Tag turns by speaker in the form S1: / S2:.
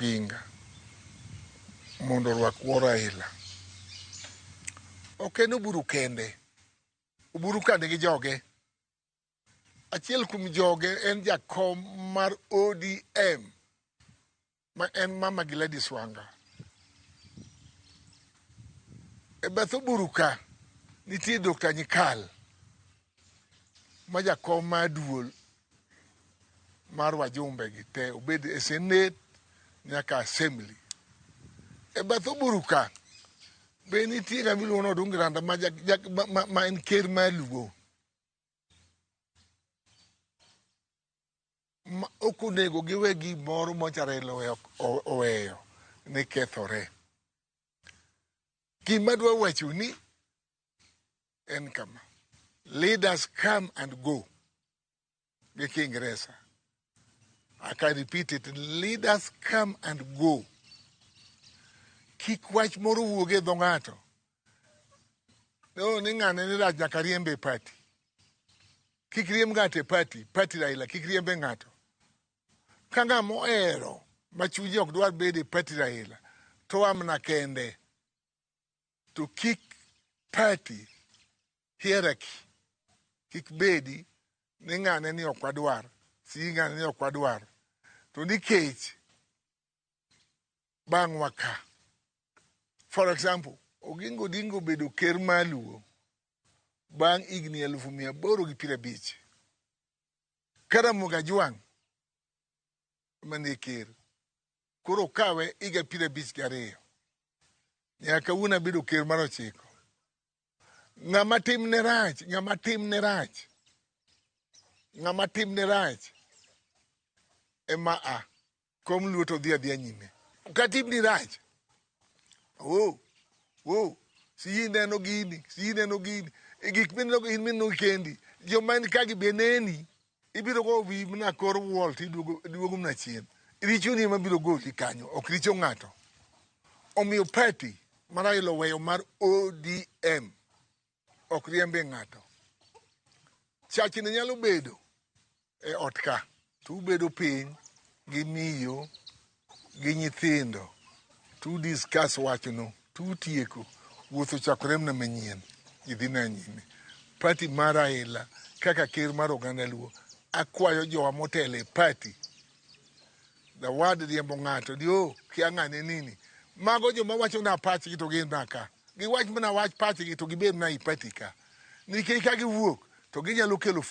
S1: pinga mondo orwak wuo Raila. Ok en Oburu kende. Oburu kande gi joge. Achiel kuom joge en jakom mar ODM ma en Mama Gladys Wanga. E bath Oburu ka nitie Dr. Nyikal ma jakom ma duol mar wajumbe gi te obed e senet nyaka assembly e bath oburu ka be nitie ng'ama iluongo ni odungi randa ma, ja, ja, ma, ma, ma en ker ma luo ma ok onego giwe gimoro mocharelo oweyo ni kethore gima dwa wacho ni en kama leaders come and go gi kiingeresa i can repeat it leaders come and go kik wach moro wuog e dho ng'ato no ni ng'ane ni rach nyaka riembe e pati kik riemb ng'ato e pati pati raila kik riembe ng'ato ka ng'a mohero ma chunye ok dwar bedo e pati raila to amna kende To kik party hierarchy kik bedi ni ng'ane ni ok wadwar, si ng'ane ni ok wadwar. To nikech bang'wa ka, for example, Oginga Odinga obedo ker ma Luo bang' higni elufu mia aboro gi piero abich. Ka Ramogi Ajwang' ema ne ker, koro okawe higa piero abich gi ariyo nyaka kawuono abedo ker mar ochiko ng'ama timne rach ng'ama timne rach ng'ama timne rach ema a kom luot odhi adhiya nyime ka timni rach wo wo si ineno gini si ineno gini e gik mineno in mineno kendi joma en ka gi be neni Ibiro go wi mna kor wall to iduogo mna chien. Richoni ema biro goli kanyo, ok richo ng'ato. Omiyo party ma Raila oweyo mar ODM ok riembe ng'ato. Chachni nyalo bedo e ot ka to ubedo piny gi miyo gi nyithindo tu discuss wachno tu tieko wuotho chakore mna manyien idhi na nyime pati mar aila kaka ker mar oganda luo akwayo jowa motelo e pati dawad riembo ng'ato di o kia ng'ane nini mago joma wacho na pachgi to gin na ka giwach mana wach pachgi to gibed na i pati ka nikech ka giwuok to ginyalo kelo